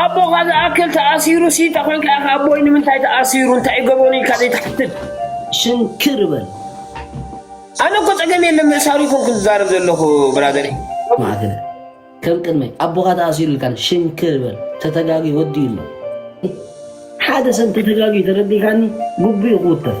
ኣቦኻ ዝኣክል ተኣሲሩ ሲ ተኾንካ ኢኻ ኣቦይ ንምንታይ ተኣሲሩ እንታይ እዩ ገበኑ ኢልካ ዘይትሓትት ሽንክር በል። ኣነ እኮ ጸገም የለን ምእሳሩ ይኮንኩ ዝዛረብ ዘለኹ ብራዘር ማዕክነ ከም ቅድመይ ኣቦኻ ተኣሲሩ ኢልካን ሽንክር በል ተተጋጊ ወዲ ኣሎ ሓደ ሰብ ተተጋጊ ተረዲካኒ ጉቡእ ይኹውተፍ